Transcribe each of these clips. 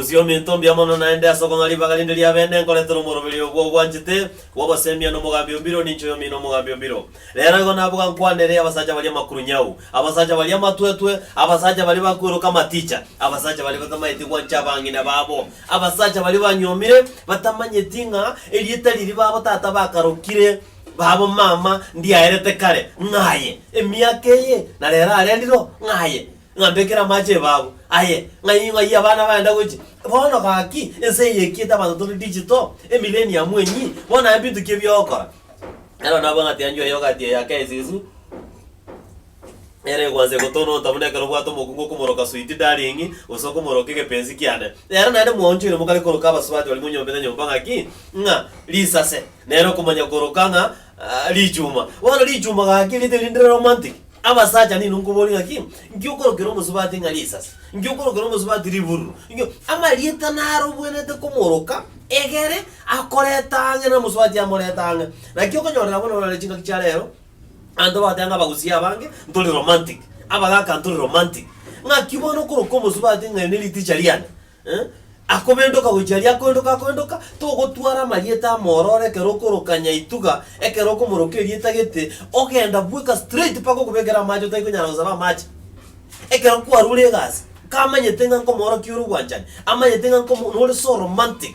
Omogosi ominto mbuya mono naende ase okong'a ribaga rinde ria bene nkoretera omoroberi oyo gw'ogwanchete, gw'ogosemia n'omogambi o mbiro, ninche oyomino omogambi o mbiro. Rero igo naboka nkwanere abasacha baria amakurunyau, abasacha baria amatwetwe, abasacha baria bakworoka amaticha, abasacha baria batamaeti gwancha abang'ina babo, abasacha baria banyuomire, batamanyeti ng'a erieta riria babo tata bakarokire, Babo mama ndiaerete kare ng'aye, emiaka eye na rero areriro ng'aye, ng'ambekere amache ebabu aye, ng'ai ng'ai abana bagenda gochi. Bono gaki, ense eye ekiete abanto tore digital, emillennium enyii, bono aye mbinto ki ebiogokora? Nero nabwang'ati anchwa yoghurt eye ake esusu. Ere egwansa egotononta buna ekero obwate omokungu okomoroka sweet darling gose okomoroka egepensi kiane. Ere naende mwaonchoire mokare koroka abasubati barimo nyomba na nyomba ng'a ki? Ng'a risase, nere okomanya koroka ng'a richuma. Bono richuma gaki riri teri rinde romantic? Abasacha ninwe nkoborie ng'a ki? Nki okorokera omosubati ng'a risase? Nki okorokera omosubati ribururu? Nki? Amarieta narobwenerete komoroka egere akoreta ang'e na omosubati amorete ang'e. Naki okonyorera bono orore chingaki chia rero. Abanto bagotea ng'a abagusii abange ntori romantic, abagaka ntori romantic. Ng'aki bono okoroka omosubati ati ng'a eri ne riticha riane eh, akobendoka gochia aria akoendoka akoendoka, togotwara amarieta amororo ekero okoroka nyaituga, ekero okomoroka erieta gete, ogenda bweka straight mpaka okobekere amache otari konyara gosaba amache. Ekero kwarure egasi, kamanyete ng'a nkomoorokia ore obwanchani, amanyete ng'a nkomo nore so romantic.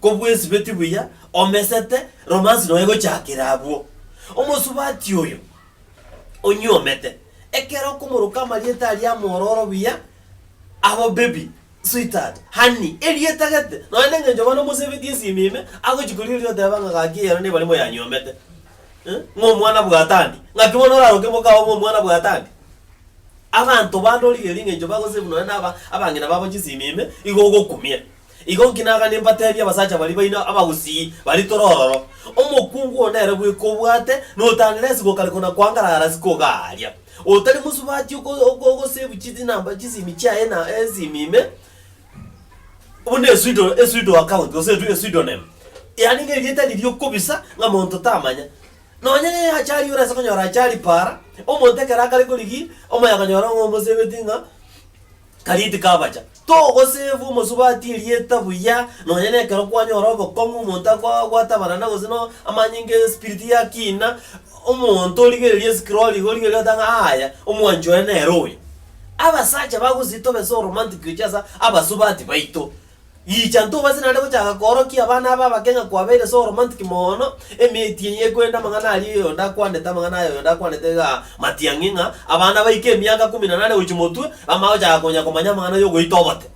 Kobwesibeti buya, omesete, romansi nonya gochakera abwo. Omosubati oyo onyuomete, ekero okomoroka amarieta aria amwororo buya, abo baby, sweetheart, honey, erieta gete, nonya nengencho bono omosebetie esimu ime, agochia koria oria oteba ng'a gaki eyero nigo barimo yanyuomete. Eh, ng'a omwana bwatandi, ng'aki bono oraroke mokao ng'a omwana bwatandi? Abanto bande origereria engencho bagosave nonya na aba abang'ina babo chisimu ime, igo ogokumia. Igo inki nagane mbateebie abasacha baria baino abagusii baria tore ororo, Omokungu oo nere bweka obwate, notanera esigo kare kona kwangarara ase kogaaria. Otari mosubati oko ogosebu chinamba chisimi chiaye na esimi ime, buna esuido esuido account gose edu esuidonym, yaani ng'a erieta riria okobisa ng'a monto tamanya. Nonya ne achari ore ase konyora achari paara, omonto ekero akare korigia, omoyakonyora ng'a omosebeti ng'a. Karia tikabacha, togosave omosubati erieta buya, nonya nekero kwanyora obokong'u, omonto akoa gwatabarana gose no amanyinga espiriti ya kiina, omonto origereria esikirori iga origereria gote ng'a aaya, omwanchi one nere oyo. Abasacha bagosii tobe so romantic gochia ase abasubati baito, Riicha intwe obase naende gochaka koorokia abana aba abake ng'a kwabeire so romantic mono, emeti eye ekorenda amang'ana aria oyonde akwanete amang'ana aya oyonde akwanete iga matiang'i ng'a abana baike emiaka ikomi na nane gochia motwe bamanye gochaka konya komanya amang'ana ya ogoita oboke.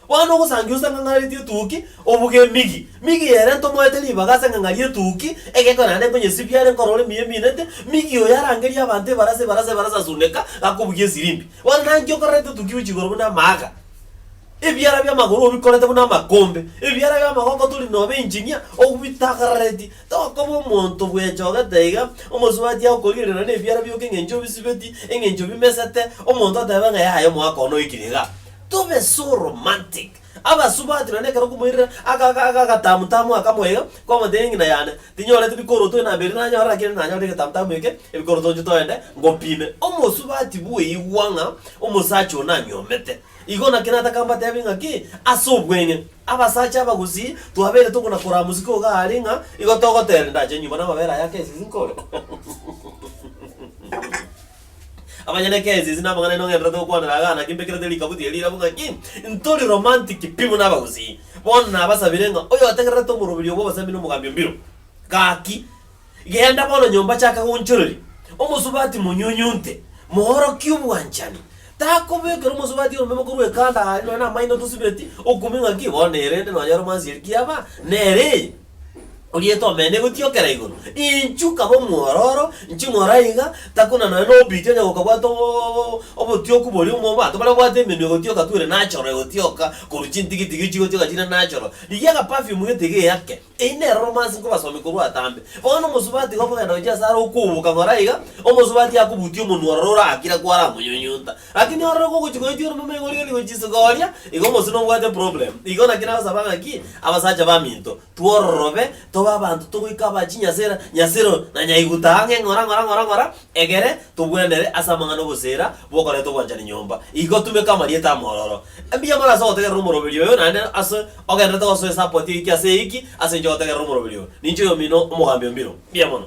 Bono ogosangi gose ng'ang'aneretie etuki, obuge emigi, migi ere ntomoete ribaga ase eng'ang'a ri'etuki, egekone naende nkonyesibia are nkorora emiya eminete, migi oyo arangerie abanto ebarasa ebarasa ebarasa asuneka gakobugia esirimbi. Bono naki okororete etuki gochia igoro buna amaaga. Ebiara bi'amagoro obikorete buna amakombe, ebiara bi'amagoko tori nobe engineer obitagararetie. Tokoba omonto bwechogete iga, omosubatia agokorigerera nebiara bioka eng'encho obisibeti, eng'encho bimesete, omonto atebe ng'a yaya omwaka one oikire iga. Tobe so romantic. Abasubati nonye ekero okomoirera aka aka aka agatamu tamu aka moiga, kwamotebia ng'ina yane, tinyoreti bikoroto ere namberi nanyorire naki ere nanyorire egetamu tamu eke, ebikoroto nchio toende ngopime. Omosubati bweigwa ng'a omosacha one anyomete. Igo naki nataka mbateebie ng'a ki ase obweng'e, abasacha aba gusii twabeire tokona koraa mosike ogo aare ng'a igo togoteera ndache nyomba namabere aya ake esisi nkore. Abanyene eke esisi namang'ana aino ng'enderete gokwanera igaa naki mbekerete rikabuti eri rirabu ng'a ki ntori romantic pi buna abagusii. Bono nabasabire ng'a oyotegererete omoroberi obwo obasemi nomogambi o mbiro. Gaki Genda bono nyomba chaka goonchoreria omosubati monyunyunte, moorokie obwanchani. Takobeekera omosubati oromeme korwa ekando aare nonya namaino tosibeti, okumie ng'aki, bono erende nonyore omansieri kiaba nere eye. Orieta omene egotiokera igoro, inchu kaba omwororo, inchu ng'ora iga, takuna nonya nobiti onye gokabwata o- obotioku boria omo abanto bare babwate emenwa egotioka tu ere nachoro egotioka korwa chintigitigi chigotioka chire nachoro. Rigia agapafyumu getiga eyake. Eyio nere romansi nkobasomia korwa atambe. Bono omosubati iga okogenda gochia ase are okouboka ng'ora iga, omosubati akobutia omonwa ororo orakire kware amonyunyunta. Lakini ororo kogochia koyechwa eromeme iga origerie gochia isiko oria, iga omosio nobwate problem. Igo naki nagosaba ng'aki, abasacha baminto, twororobe, tobe abanto togoika aba chinyasera, nyasero, na nyaiguta ang'e ng'ora ng'ora ng'ora ng'ora, Egere togwenerere ase amang'ana 'ogoseera bokoreta ogwanchani nyomba. Igo tumeka amarieta amororo. Mbuya mono ase ogotegerera omoroberi oyo, naende ase ogenderete gosoa esapoti eyio ki ase eyio ki ase inche ogotegerera omoroberi oyo. Ninche oyomino omogambi o mbiro. Mbuya mono.